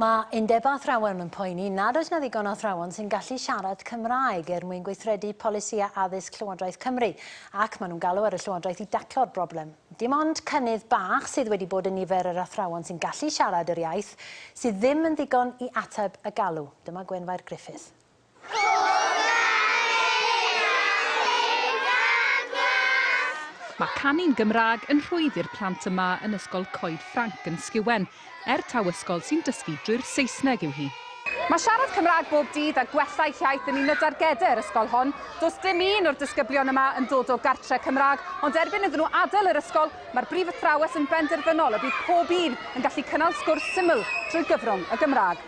Mae Undebau Athrawon yn poeni nad oes 'na ddigon o athrawon sy'n gallu siarad Cymraeg er mwyn gweithredu polisïau addysg Llywodraeth Cymru ac maen nhw'n galw ar y Llywodraeth i daclo'r broblem. Dim ond cynnydd bach sydd wedi bod yn nifer yr athrawon sy'n gallu siarad yr iaith sydd ddim yn ddigon i ateb y galw. Dyma Gwenfair Griffith. Mae canu'n Gymraeg yn rhwydd i'r plant yma yn Ysgol Coed Ffranc yn Sciwen, er taw ysgol sy'n dysgu drwy'r Saesneg yw hi. Mae siarad Cymraeg bob dydd a gwella eich iaith yn un o dargedau yr ysgol hon. Does dim un o'r disgyblion yma yn dod o gartre Cymraeg, ond erbyn iddyn nhw adael yr ysgol, mae'r brif athrawes yn benderfynol y bydd pob un yn gallu cynnal sgwrs syml trwy gyfrwng y Gymraeg.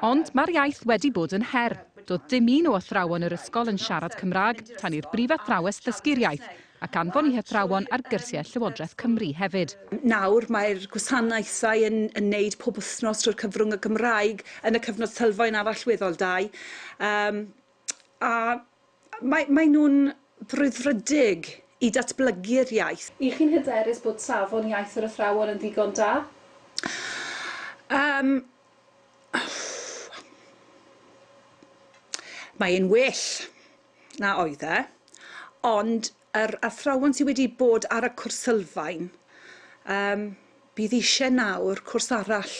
Ond mae'r iaith wedi bod yn her. Doedd dim un o athrawon yr ysgol yn siarad Cymraeg tan i'r brifathrawes ddysgu'r iaith ac anfon i hathrawon ar gyrsiau Llywodraeth Cymru hefyd. Nawr mae'r gwasanaethau yn yn neud pob wythnos trwy'r cyfrwng y Gymraeg yn y cyfnod sylfaen a'r allweddol dau. Yym. a mae, mae nhw'n frwdfrydig i datblygu'r iaith. Y'ch chi'n hyderus bod safon iaith yr athrawon yn ddigon da? Yym. Mae e'n well na oedd e, ond Yr athrawon sydd wedi bod ar y cwrs sylfaen, yym, bydd eisiau nawr cwrs arall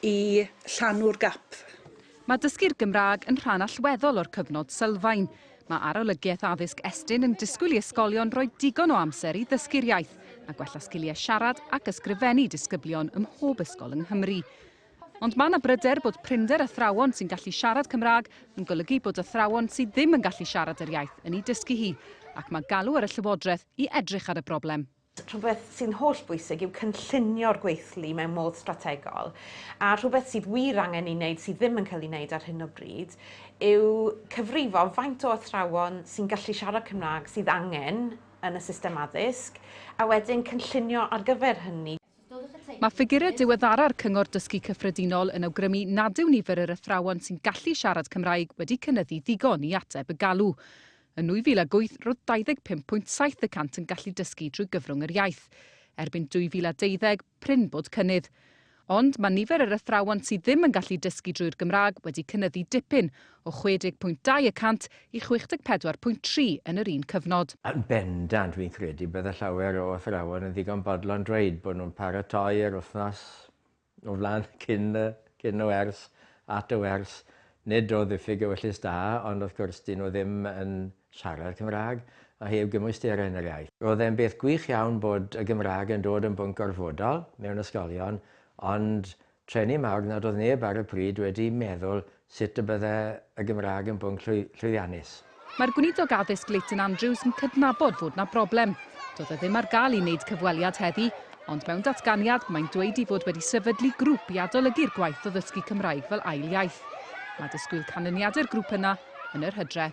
i llanw'r gap. Mae dysgu'r Gymraeg yn rhan allweddol o'r cyfnod sylfaen. Mae Arolygiaeth Addysg Estyn yn disgwyl i ysgolion roi digon o amser i ddysgu'r iaith a gwella sgiliau siarad ac ysgrifennu disgyblion ym mhob ysgol yng Nghymru. Ond mae yna bryder bod prinder athrawon sy'n gallu siarad Cymraeg yn golygu bod athrawon sydd ddim yn gallu siarad yr iaith yn ei dysgu hi, ac mae galw ar y Llywodraeth i edrych ar y broblem. Rhywbeth sy'n holl bwysig yw cynllunio'r gweithlu mewn modd strategol, a rhywbeth sydd wir angen ei wneud sydd ddim yn cael ei wneud ar hyn o bryd yw cyfrifo faint o athrawon sy'n gallu siarad Cymraeg sydd angen yn y system addysg, a wedyn cynllunio ar gyfer hynny. Mae ffigurau diweddara'r Cyngor Dysgu Cyffredinol yn awgrymu nad yw nifer yr athrawon sy'n gallu siarad Cymraeg wedi cynyddu ddigon i ateb y galw. Yn 2008, roedd 25.7 y cant yn gallu dysgu drwy gyfrwng yr iaith. Erbyn 2012, prin bod cynnydd. Ond mae nifer yr athrawon sydd ddim yn gallu dysgu drwy'r Gymraeg wedi cynyddu dipyn, o 60.2 y cant i 64.3 yn yr un cyfnod. Yn bendant, fi'n credu, bydde llawer o athrawon yn ddigon bodlon dweud bod nhw'n paratoi yr wythnos o flaen cyn y cyn y wers, at y wers. Nid o ddiffyg ewyllys da, ond wrth gwrs, 'dyn nhw ddim yn siarad Cymraeg, a heb gymwysterau yn yr iaith. Roedd e'n beth gwych iawn bod y Gymraeg yn dod yn bwnc gorfodol mewn ysgolion, ond Treni mawr nad oedd neb ar y pryd wedi meddwl sut y bydde y Gymraeg yn bwnc llwyddiannus. Mae'r Gweinidog Addysg Leighton Andrews yn cydnabod fod 'na broblem. Doedd e ddim ar gael i wneud cyfweliad heddi, ond mewn datganiad mae'n dweud i fod wedi sefydlu grŵp i adolygu'r gwaith o ddysgu Cymraeg fel ail iaith. Mae disgwyl canlyniadau'r grŵp yna yn yr hydre.